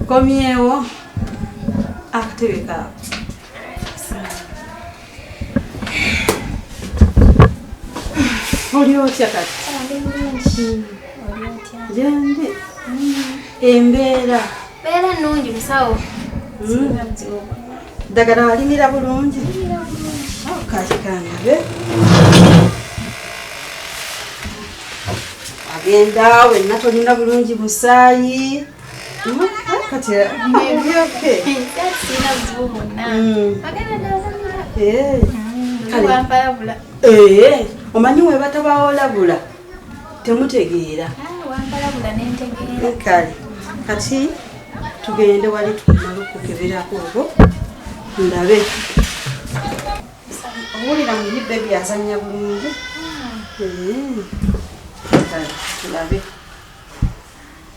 Komyewo akutebeka oli otya kati jandi embeera beera nungi musawo ddagala walimira bulungi kakikanabe agenda wenna tolina bulungi musaayi kati nebyoke sina buzibu bwonna agenda nalamira omanyi webatabawolabula temutegeera kale kati tugende wali tumala okukeberako olwo ndabe owulira muyi bebi azanya bulungi tulabe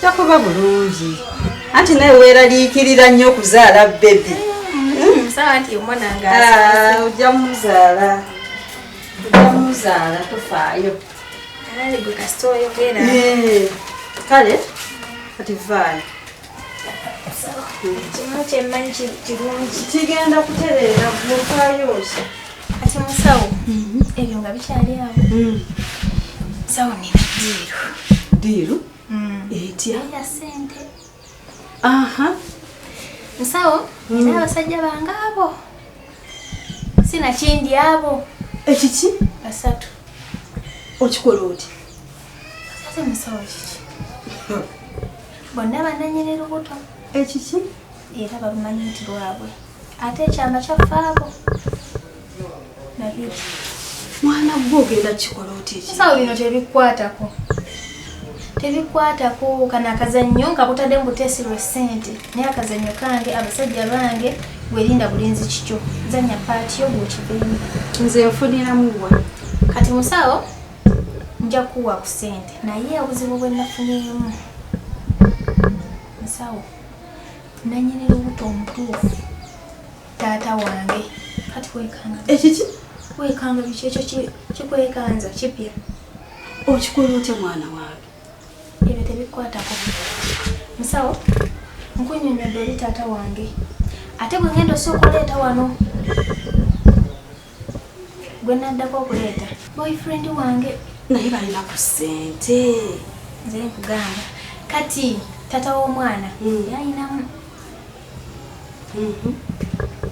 takuba bulungi anti naye weeraliikirira nnyo okuzaala bebi hmm, ah, ojja muzaala ojja muzaala tofaayo eh, kale kati vaayo kigenda kutereera gwokayosa kati musawo mhm. ebyo nga bikyali awo mm. sawo nina diiru diiru mm. etya ya sente aha musawo mm. nina abasajja bange abo sinakindi abo ekiki basatu okikola oti ate musawo kiki bonna bananyerera obuto ekiki era babumanyi nti lwabwe ate ekyama kyafaako nabiki mwana gwe ogenda kikola otya ekisawo bino tebikwatako tebikwatako kana akazannyo nga butadde mu buteesi lwe ssente naye akazannyo kange abasajja bange gwerinda bulinzi kikyo zanya paati yo gwekibeemu nze nfuniramu wa kati musawo nja kuwa ku ssente naye obuzibu bwe nafunyeemu musawo Nanyini lubuto omutuufu taata wange kati wekanga ekiki wekanga biki ekyo kikwekanza kipya okikola otya mwana wange ebyo tebikwatako musawo nkunyonyodde oli taata wange ate bwe ngenda osooka oleeta wano gwe naddako okuleeta boyfriend wange naye balina ku ssente nze nkugamba kati tata w'omwana hmm. yayinamu mhm.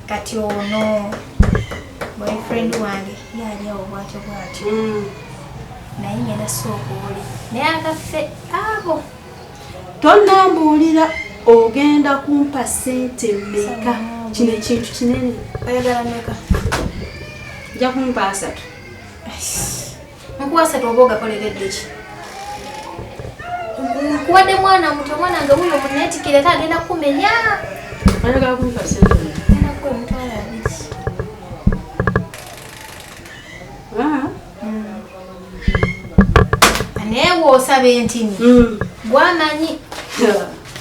kati ono boyfriend wange yali awo bwatyo bwatyo hmm. naye ngenda sooka oli naye agaffe abo tonambuulira ogenda kumpa sente meka kino ekintu kinene oyagala meka nja kumpa asatu nkuwa asatu oba ogakoleredde ki nkuwadde mwana muto omwana nga wuyo munetikira ate agenda kumenya oyagala kumpa sente meka naye bwosaba entini mm. gwamanyi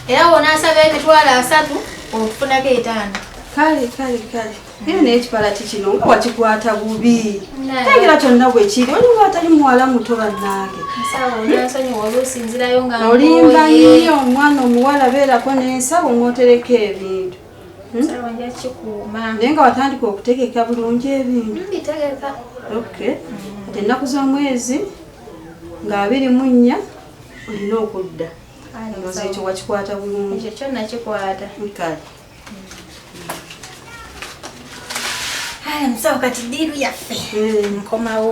era wonasaba emitwalo asatu okufunako etaano kale kale kale era naye ekipalati kino nga wakikwata bubi tegera kyonna bwekiri olinga atali muwala muto bannange olimba nnyo omwana omuwala beerako n'ensawo ng'otereka ebintu Hmm? naye nga watandika okutegeka bulungi ebintu hmm, ennaku z'omwezi nga abiri mu nnya olina okudda ndoza ekyo wakikwata bulungi musawo kati diiru yaffe hmm. nkomawo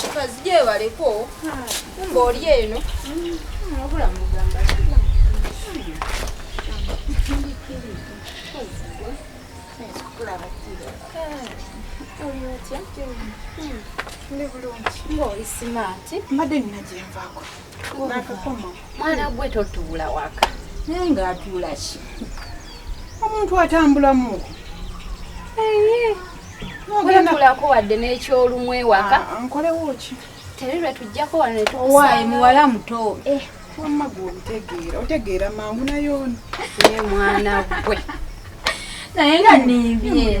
kikazi gyebaleko kumba oli eno wabula mugamba ndi bulungi ngaoli simaati mbadde nina gyenvaako mwana gwe totuula waka naye ngaatuula ki omuntu atambulamu wetulako wadde n'ekyolumu ewaka ah, ah, nkolewo ki teri lwe tujjako wano netuwaayi muwala muto eh. wamma gwe obutegeera otegeera mangu nayoona naye mwana gwe naye nga nimbye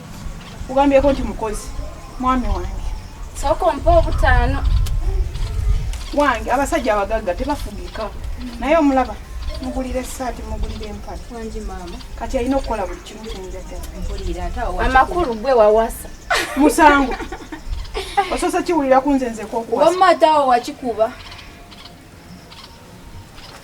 ugambyeko nti mukozi mwami wange sooka ompa obutaano wange abasajja abagagga tebafugika naye omulaba mugulira esaati mugulira empale wangi maama kati alina okukola buli kimu kyenjagaamakulu gwe wawasa musango osoose kiwulira kunze nzekokuwasa omatawo wakikuba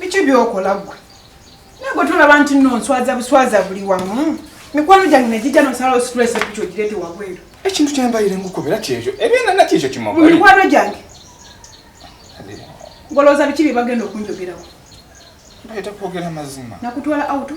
biki byokola gwe nagwe tolaba nti no nswaza buswaza buli wamu mikwano gyange negijja nosalawo stress ekikyo girete wabweru ekintu kyembalire ngukubira kyekyo ebyena nakyekyo kimamikwano gyange ngolowooza biki byebagenda okunjogerawo nakutwala auto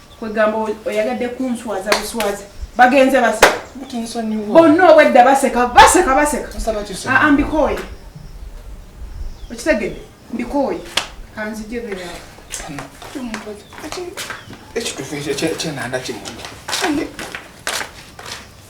kwegamba oyagadde kunswaza buswaza bagenze baseka bonna obwedda baseka baseka baseka ah, ah, mbikooye okitegede mbikooye kanzijebera ekitufu ekyenanda kimunda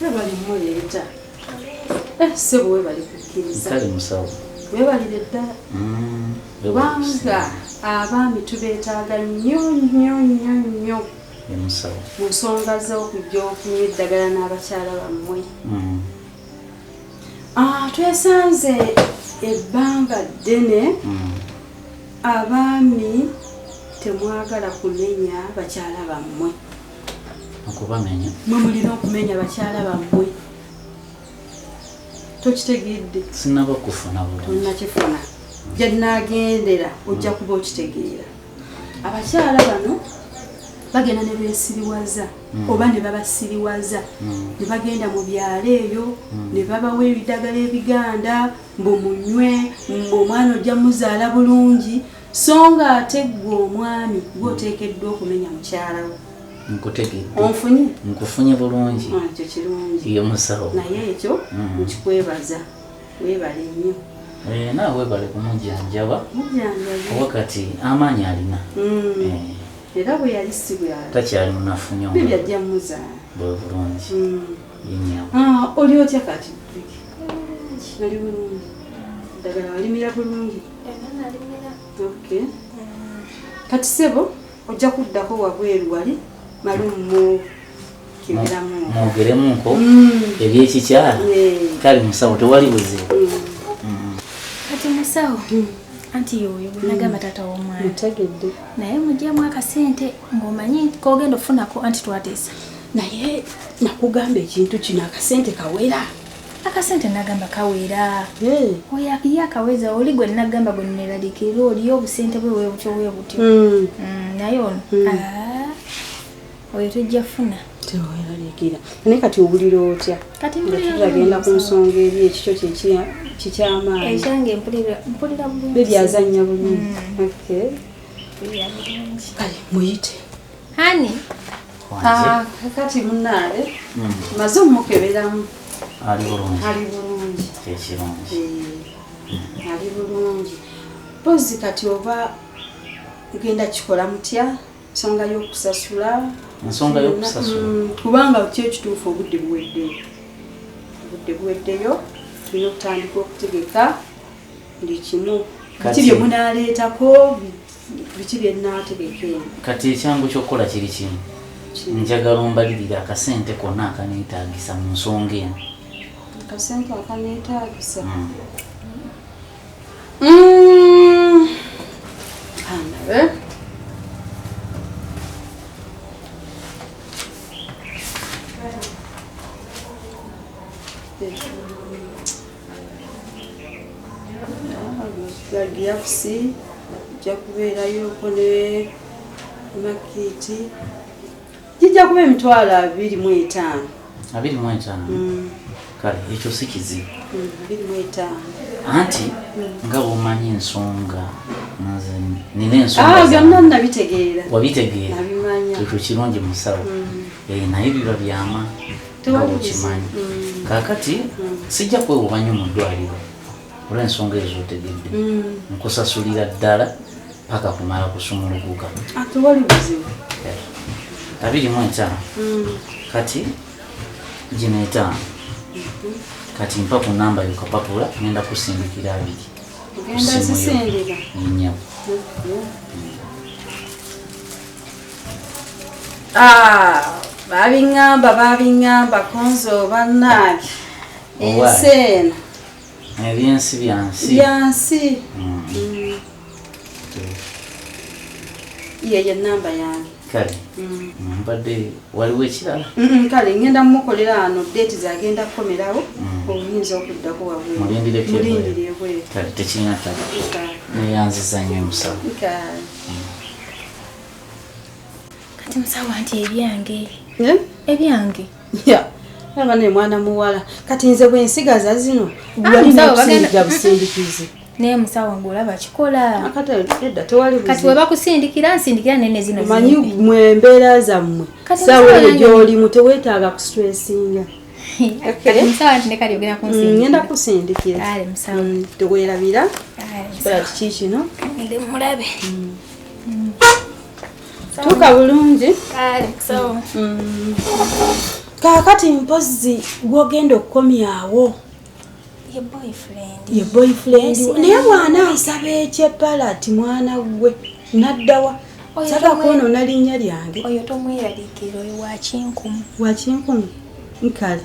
webali muleeta sebo webali kukkiriza webalire ddala kubanga abaami tubeetaaga nnyo nnyo nnyo nnyo mu nsonga z'okujja okunywa eddagala n'abakyala bammwe Ah, twesanze ebbanga ddene hmm. abaami temwagala kumenya bakyala bammwe okubamenya mwe mulina okumenya bakyala bammwe tokitegedde sinaba kufuna bulungi tonakifuna gyenagendera ojja hmm. kuba okitegeera abakyala bano bagenda ne beesiriwaza hmm. oba ne babasiriwaza hmm. ne bagenda mu byalo eyo hmm. ne babawa ebidagala ebiganda mbu munywe mbu omwana ojja muzaala bulungi so nga ate ggwe omwami gwoteekeddwa okumenya mukyala wo nkufunye bulungi ah, ekyo kirungi naye ekyo nkikwebaza Webale nnyo. Eh, naawe webale kumujanjaba oba kati amaanyi alina mm. eh. era bwe yali si bwali takyali munafu nyo byajja muzaala bwe bulungi mm. ah, oli otya kati nali bulungi ddagala walimira bulungi kati sebo Ojja kuddako wabweru wali malumu mu kibiramu. Mwogeremu nko mm. ebyekikyala kale musawo tewali buzibu. Mm. Kati musawo mm. anti yoyo nagamba taata w'omwana. Ntegedde. Naye mujjemu akasente ng'omanyi k'ogenda ofunako anti twateesa. Naye nakugamba ekintu kino akasente kawera. akasente nagamba kawera hey. oya ye akaweza oli gwe nagamba gwe neralikirira oliyo obusente bwe webutyo webutyo mm. mm, naye ono mm. Ah, oyo tujja funa teweralikira naye kati owulira otya katitagenda ku nsonga eri ekikyo kikyamaani ekyange mpulira bebyazanya bulungi mm. kale muyite hani Ah, kakati munaale hmm. maze omukeberamu ali bulungi ali bulungi kyekirungi eh, ali bulungi pozi kati oba ugenda kikola mutya nsonga yokusasula nsonga yokusasula hmm, kubanga ki ekituufu obudde buweddeyo obudde buweddeyo tulina okutandika okutegeka buli kimu kati bye munaaleetako biki bye nnaategeka eno kati ekyangu ky'okukola kiri kimu njagala ombalirire akasente konna akaneetaagisa mu nsonga eno akasente akaneetaagisa hmm. Hmm. anabe gilavusi ojja kubeerayoko ne makiiti gijja kuba emitwalo abiri mu etaano abiri mu etaano mm. kale ekyo si kizibu mm, abiri mu etaano anti mm. nga bwomanyi ensonga nina ensongabyonna ah, nabitegeera wabitegeera ekyo kirungi musawo eh, naye biba byama okimanyi mm. kakati mm. sijja kwewuba nyo mu ddwaliro olw'ensonga ezo otegedde mm. nkusasulira ddala paka kumala kusumuluguka abiri mu etaano kati gino etaano mm-hmm. kati mpa ku namba yokapapula ngenda kusindikira abiri kusimuyo nyabo Ah, babiŋŋamba babiŋŋamba konzo bannange ensi eno ebyensi byansi byansi mm. mm. yeyo enamba yange kale mm. mbadde waliwo ekirala kale ngenda mumukolera ano deeti zagenda kukomerawo obuyinza okuddako wabwemulindireebweru tekirina ttaka neyanziza nyo emusawo kati musawo anti ebyange eh? ebyange aba ne mwana muwala kati nze bwensigaza zino ah, walinaosindiga busindikizi naye musawo ngaolaba kikola kati webakusindikira nsindikira nene zino manyi mwembeera zammwe sawa eyo gyolimu tewetaaga kustresinga ngenda kusindikiratewerabira kikola kiki kino tuuka bulungi kaakati mpozi gwogenda okukomyawo ye boyfriend naye mwana nsaba ekyepala ti mwana gwe naddawa saba kwonona linnya lyange oyo tomweralikira oyo wakinkumu wakinkumu nkale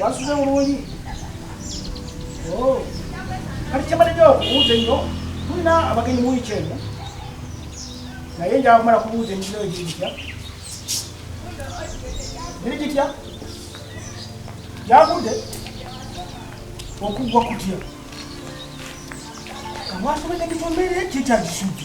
Wasuze bulungi. Oh. Kati kyembadde nja okubuuza ennyo tulina abagenyi mu wiiki eno naye nja kumala kubuuza emikino egiri gitya giri gitya gyagudde okuggwa kutya kamwasomedde kitomere kikyagisudde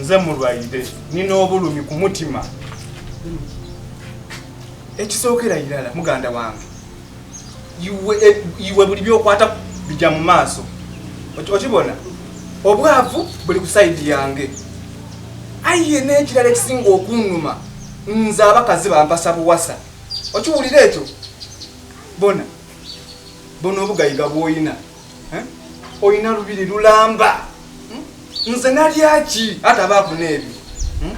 nze mulwaire nina obulumi ku mutima ekisookera irala muganda wange iwe eh, buli byokwata bija mu maaso okibona obwavu buli ku saidi yange aye n'ekirala ekisinga okunuma nze abakazi bampasa buwasa okiwulira ekyo bona bona obugayiga bwoyina eh? olina lubiri lulamba hmm? nze nalyaki ate abaavu n'ebyo hmm?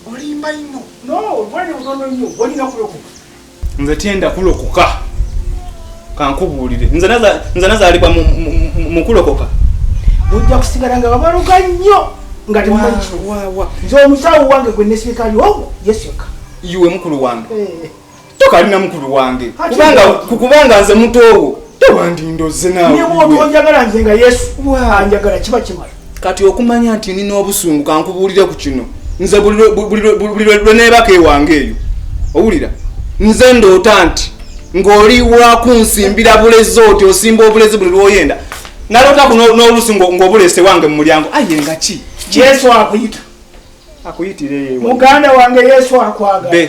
olimba ino nze tenda kulokoka kankubuulire nze nazaalibwa mu kulokoka bujja kusigala nga babaloga nnyo nga temumanyi kino nze omusawo wange gwe nesirikali ogwo yesu yekka iwe mukulu wange eh. tokalina mukulu wange kubanga kukubanga nze mutoowo tewandindoze nawe ne wotu onjagala nze nga yesu anjagala kiba kimala kati okumanya nti nina obusungu kankubuulire ku kino nze buli lwe neebaka ewange eyo owulira nze ndoota nti ng'oli wakunsimbira bulezi oti osimba obulezi buli lwoyenda nalotaku n'olusi ng'obulese wange mu mulyango aye nga ki yesu akuyita akuyitire muganda wange yesu akwagala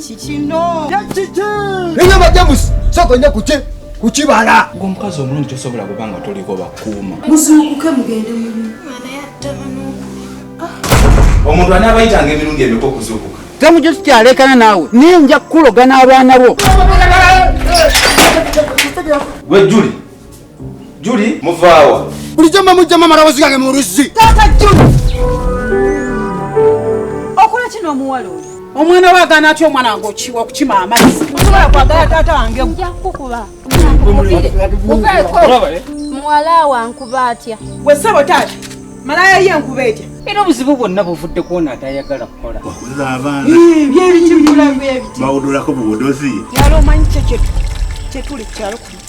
kikino kiki eyo majamusi soko nyo kuki kukibala ngo mukazi omulungi tosobola kubanga toliko bakuuma muzuukuke mugende mumu omuntu anaabayitanga emirundi emiko okuzuukuka temujo tukyalekana naawe naye nja kukulogana abaana bo gwe juli Juli muvaawa. Bulijjo mba mujja mama rawozi gange mu luzzi. Taata Juli. Okola kino omuwala oyo. Omwana wa gana atyo omwana wange okiwa okukima amazzi. Musobola kwagala taata wange. Nja kukuba. Muwala wa nkuba atya. Gwe ssebo taata. Malaya ye nkuba etya. Era obuzibu bwonna buvudde kwona atayagala kukola. Wakuza abaana. Byebiki bulamu byebiti. Bawudulako buwudozi. Yalo omanyi kye kye tuli kyalo kuno.